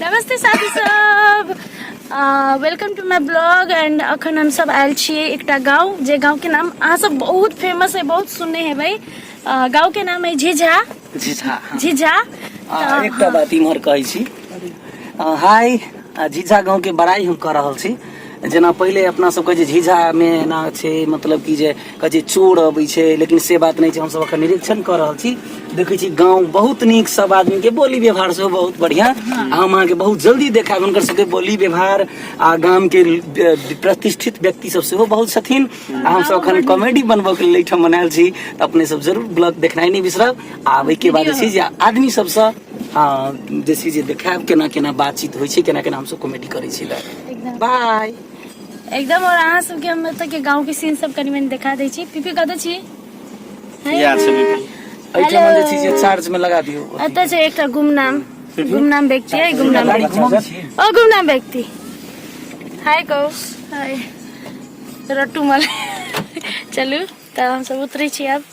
नमस्ते साथी सब welcome to my blog and अखन हम सब आयल छियै एकटा गाँव जे गाँव के नाम अहाँ सब बहुत फेमस है बहुत सुनने हेबै अ, गाँव के नाम है झिझा झिझा झिझा आ, एकटा बात इम्हर कहै छी आ, हाय आ, झिझा गाँव के बड़ाई हम कऽ रहल छी जेना पहिले अपना सबके जे झिझा मे एना छै मतलब कि जे के जे चोर अबै छै लेकिन से बात नहि छै हमसभ एखन निरीक्षण कऽ रहल छी देखै छी गाँव बहुत नीक सब आदमी के बोली व्यवहार सेहो बहुत बढ़िया आ हम अहाँके बहुत जल्दी देखायब हुनकर सबके बोली व्यवहार आ गाम के ल- प्रतिष्ठित व्यक्ति सब सेहो बहुत छथिन आ हमसभ एखन कॉमेडी बनबऽ के लेल एहिठाम बनायल छी तऽ अपने सब जरूर ब्लॉग देखनाइ नहि बिसरब आ ओहिके बाद जे छै जे आदमी सबसँ हँ जे छै जे देखायब केना केना बातचीत होइ छै केना केना हमसभ कॉमेडी करै छी बाय एकदम और अहाँ सबके हम एतऽ के गांव के सीन सब कनी मनी देखा दै छी पीपी कतऽ छी यार से भी एहिठाम जे चीज छै चार्ज में लगा दियौ एतऽ छै एकटा गुमनाम गुमनाम व्यक्ति है गुमनाम व्यक्ति ओ गुमनाम व्यक्ति हाय कहू हाय रट्टू मल चलू तऽ हमसब उतरै छी आब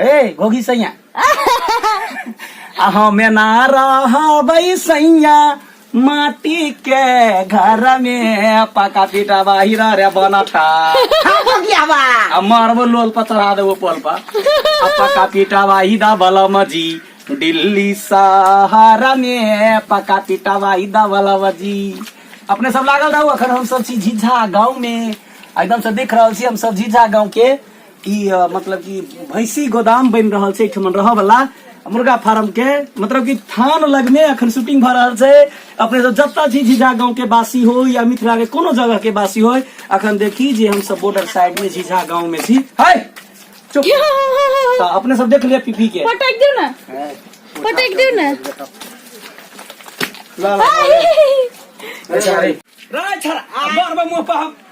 हे घोघी सैया हम ना रहबै सैया माटी के घर में पका पीटा बाहिर रे बनठा आ मारबो लोल पर चढ़ा देबो पोल पर आ पका पीटा बाही दा बलम जी दिल्ली सहारा में पका पीटा बाही दा बलम जी अपने सब लागल रहू अखन हम सब छी झिझा गाँव में एकदम से देख रहल छी हम सब झिझा गाँव के ई अ, मतलब कि भैंसी गोदाम बनि रहल छै एहिठाम रहऽ वाला मुर्गा फार्म के मतलब कि थान लग में अखन शूटिंग भऽ रहल छै अपने सब जतऽ छी झिझा गांव के वासी हो या मिथिला के कोनो जगह के वासी हो अखन देखी जे हम सब बॉर्डर साइड में झिझा गांव में छी हाय चुप तऽ अपने सब देख लिअ पीपी के पटक दियो ना पटक दियो ना ला, ला, ला। राय छड़ा आ बार बार मुंह पर हम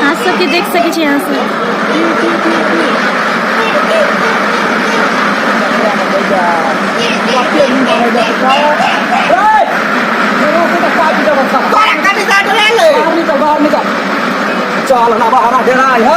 अहाँ सबके देख सकै छी अहाँ सब चल ना बाहर डेरा है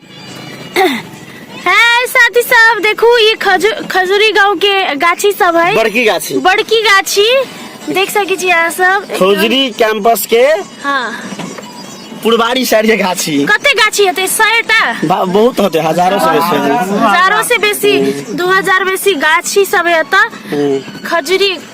है साथी सब देखू ई खजू- खजूरी गांव के गाछी सब है बड़की गाछी बड़की गाछी देख सकै छी अहाँ सब एकदम- खौजरी कैंपस के हाँ पुरबारी साइड के गाछी कते गाछी हेतै सयटा बा- बहुत होते हजारों से बेसी हजारों से बेसी दू हजार बेसी गाछी सब है एतऽ हम्म। खजूरी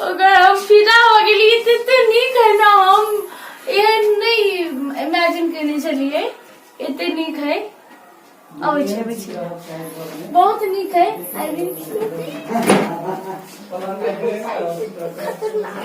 अगर हम फिदा हो गेलियै तऽ एते नीक है ना हम एहन नहि इमेजिन केने छलियै एते नीक है अबै छै अबै छै बहुत नीक है आई विल खतरनाक